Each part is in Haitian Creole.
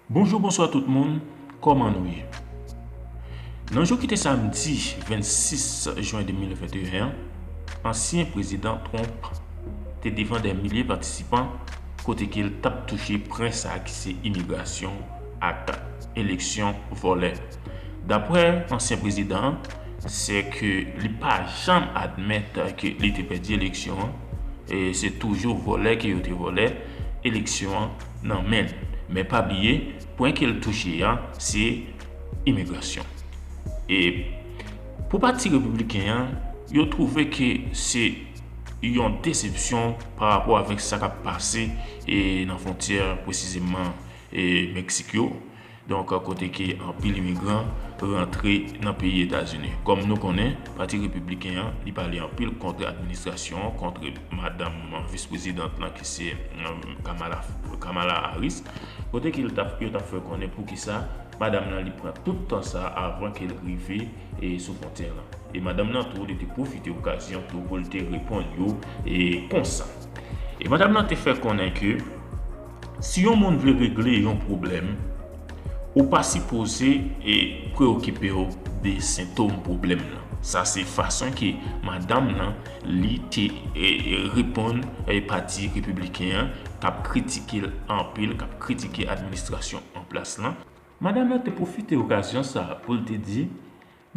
Bonjou bonswa tout moun kòman nou ye nan jou kite samdi 26 jen 2021 an ansyen prezidan Trump te devan dè milye patisipan kote ke l tap touche pren sa ki se imigrasyon ak eleksyon vòlè daprè ansyen prezidan an se ke li pa janm admèt ke li te pèdi eleksyon an e se toujou vòlè ke yo te vòlè eleksyon an. nan men l men pa bliye pwen ke l touche a se imigrasyon e pou pati repibliken an yo twouve ke se yon desepsyon pa rapò avèk sa k ap pase nan fontyè pwesizeman Meksik yo. Donk kote ke anpil imigran rantre nan peyi Etazini. Kòm nou konnen, pati Repibliken an, li pale anpil kont administrasyon an, kont madanm vis prezidant lan ki se Kamala Harris, kote ke yo t ap fè konnen poukisa madanm lan li pran tout tan sa avan ke l rive sou fwontyè lan. E madanm lan tou, li te pwofite okazyon tou pou l te reponn yo konsa. E madanm lan te fè konnen ke. Si yon moun vle regle yon pwoblèm, ou pa sipoze preokipe w de sentom pwoblèm nan. Sa se fason ke madanm nan li te reponn pati repibliken an k ap kritike l anpil, k ap kritike administrasyon anplas lan. Madanm nan te pwofite okazyon sa a pou l te di,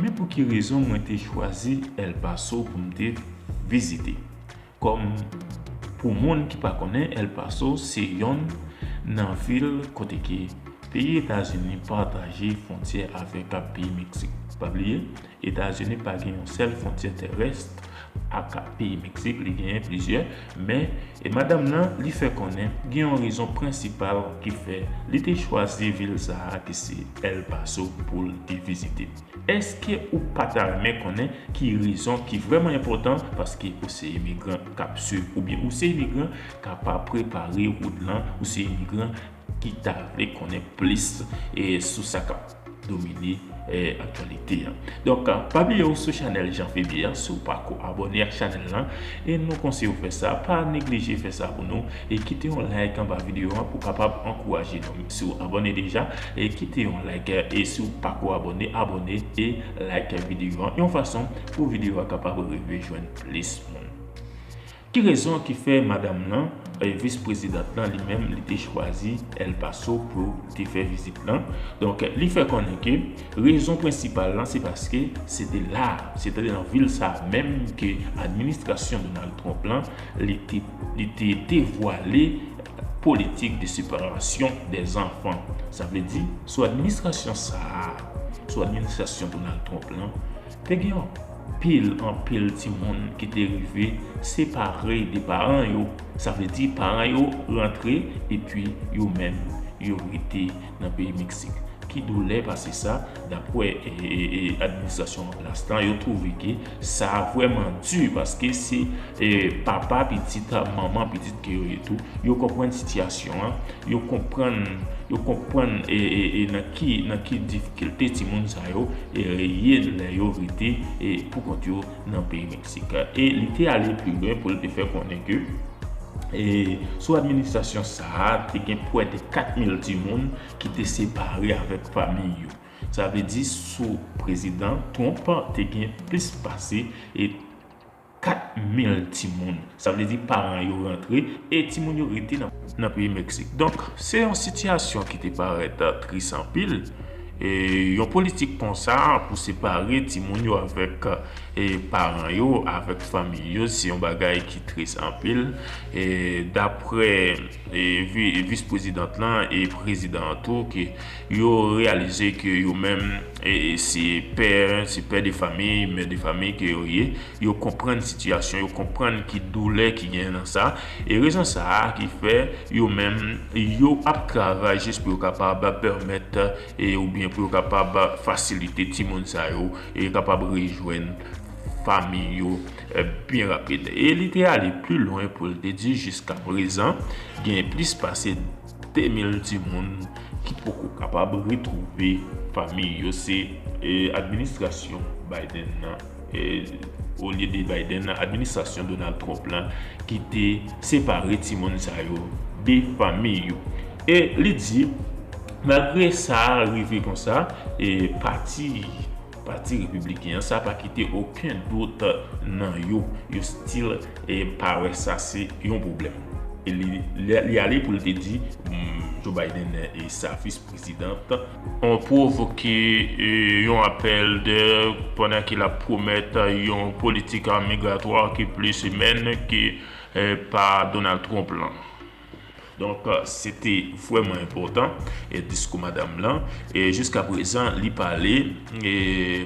Men pou ki rezon mwen te chwazi El Paso pou m te vizite. Kòm pou moun ki pa konnen El Paso se yonn nan vil kote ke peyi Etazini pataje fontyè avèk ak peyi Meksik. Pa bliye Etazini pa gen yon sèl fontyè terès ak peyi Meksik li genyen plizyè Men, e madanm nan, li fè konnen gen yon rezon prensipal ki fè li te chwazi vil sa a ki se El Paso pou l te vizite. Èske ou pa ta renmen konnen ki rezon ki vrèman enpòtan paske ou se imigran k ap swiv oubyen ou se imigran k ap prepare wout lan, ou se imigran ki ta vle konnen plis sou sa k ap domine aktyalite an. Donk, pa bliye ou sou chanèl Jean Feby an si w pa ko abòne ak chanèl lan e nou konseye w fè sa, pa neglije fè sa pou nou e kite yon like anba videyo an pou kapab ankouraje nou. Si w abòne deja, kite yon like e si w pa ko abòne, abòne e like videyo an yon fason pou videyo a kapab rive jwenn plis moun. Ki rezon ki fè madam lan, vis prezidant lan li menm li te chwazi El Paso pou yo te fè vizit lan. Donk li fè konnen ke rezon prensipal lan se paske se te la, se te nan vil sa a menm ke administrasyon Donald Trump lan li te li te devwale politik de separasyon dè zanfan. Sa vle di sou administrasyon sa a, sou administrasyon Donald Trump lan, Te gen anpil, anpil timoun ki te rive separe de paran yo. Sa vle di paran yo rantre epi yo menm yo rete nan peyi Meksik. Ki doulè pase sa, dapwè administrasyon an plas la, yo twouve ke sa vwèman di paske se papa pitit, manman pitit ke yo ye tou. Yo konprann sitiyasyon an, yo konprann, yo konprann e nan. Ki nan ki difikilte timoun sa yo ye lè yo rete pou kont yo nan peyi Meksik. E li te ale pi lwen pou l te fè konnen ke sou administrasyon sa a te gen pwè de 4 mil timoun ki te separe avèk fanmi yo. Sa vle di sou prezidan Trump te gen plis pase. 4 mil timoun, sa vle di paran yo rantre e timoun yo rete nan peyi Meksik. Donk, se yon sitiyasyon ki te parèt tris anpil. Yon politik konsa pou separe timoun yo avèk paran yo, avèk fanmi yo, se yon bagay ki tris anpil. Daprè vis prezidant lan e prezidan an tou, Yo reyalize ke yo menm se pè, se pè de famiy, mè de famiy ke yo ye. Yo konprann sitiyasyon, yo konprann ki doulè ki gen nan sa. E rezon sa a ki fè yo menm yo ap travay jis pou yo kapab pèmèt e oubyen pou yo kapab fasilite timoun sa yo e yo kapab rejwenn famiy yo byen rapid. E li te ale pli lwen pou l te di jiska prezan gen plis pase. 2000 timoun ki poko kapab retwouve fanmi yo se administrasyon Biden nan, olye de Biden nan, administrasyon Donald Trump la ki te separe timoun sa yo de fanmi yo. E li di, malgre sa rive konsa, pati. Pati Repibliken an sa pa kite oken dout nan yo, yo stil pa wè sa se yon pwoblèm. Li ale pou li te di Joe Biden e sa fis prezidant an pwovoke yon apèl dè pandan ke lap pwomèt yon politik migratwa ki plis imèn ke pa Donald Trump lan. Donk se te vrèman enpòtan diskou madam lan e jiska prezan li pale e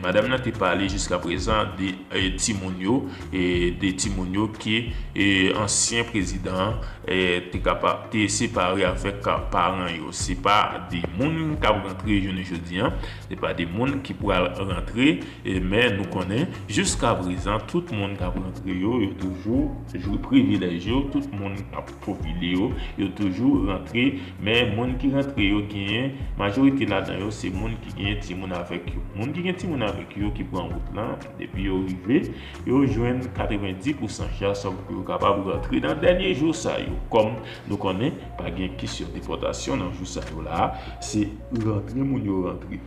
madam nan te pale jiska prezan de timoun yo e de timoun yo ke ansyen prezidan te kapab te separe avèk paran yo. Se pa de moun kap rantre jounen jodi an. Se pa de moun ki pral rantre. Men nou konnen, jiskaprezan, tout moun k ap rantre yo, yo toujou jwi privilèj yo, tout moun k ap popile yo, yo toujou rantre, men moun ki rantre yo genyen, majorite ladan yo se moun ki genyen timoun avèk yo. Moun ki gen timoun avèk yo ki pran wout lan, depi yo rive, yo jwenn 90 pousan chans sòm pou yo kapab rantre nan dènye jou sa yo. Kòm nou konnen, pa gen kesyon depòtasyon nan jou sa yo la a, se rantre moun yo rantre.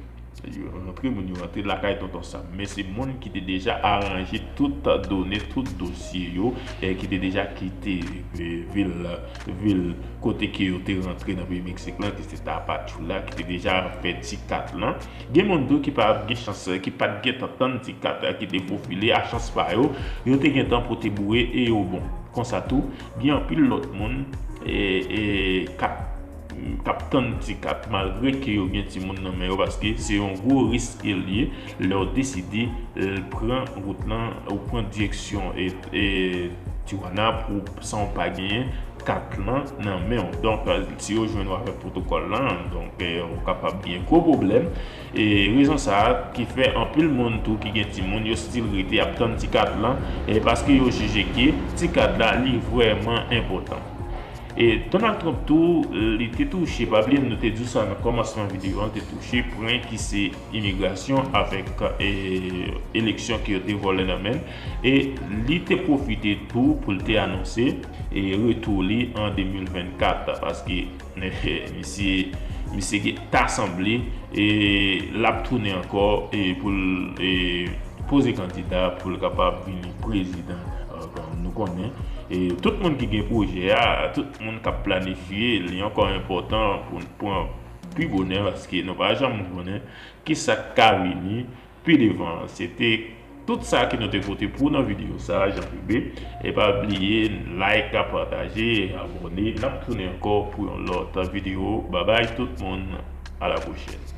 Rantre moun yo rantre lakay tonton sam men se moun ki te deja aranje tout done tout dosye yo e ki te deja kite vil kote ke yo te rantre nan peyi meksik lan ki se tapachula ki te deja fè ti kat lan gen moun tou ki pat gen chans ki pat gentan tann ti kat la ki te fofile a chans pa yo yo te gentan pote boure e yo bon konsa tou gen anpil lòt moun e kap kap tann ti kat malgre ke yo gen timoun nan men yo paske se yon gwo risk ke l ye lè w deside pran wout lan ou pran direksyon Tijuana pou san w pa genyen kat lan nan men w donk si yo jwenn w avèk pwotokòl lan donk ou kapab gen gwo pwoblèm e rezon sa a ki fè anpil moun tou ki gen timoun yo stil rete ap tann ti kat lan paske yo jije ke ti kat la li vrèman enpòtan. E Donald Trump tou li te touche, pa bliye nou te di w sa nan kòmansman videyo an, li te touche pren ki se imigrasyon avèk eleksyon ke yo te vòlè nan men l. E li te pwofite tou pou l te anonse retou li an 2024 paske misye gen ta sanble l ap tounen ankò pou l poze kandida pou l kapab vini prezidan. Bon, nou konnen, e tout moun ki gen pwojè a, tout moun k ap planifye, li ankò enpòtan pou n pran pi bonè paske nou pa janm konnen ki sa k ka vini pi devan. Se te tout sa ke nou te pote pou w nan videyo sa a, Jean Philbé. E pa bliye like, pataje, abòne. N ap tounen ankò pou yon lòt videyo. Babay tout moun, a la pwochèn.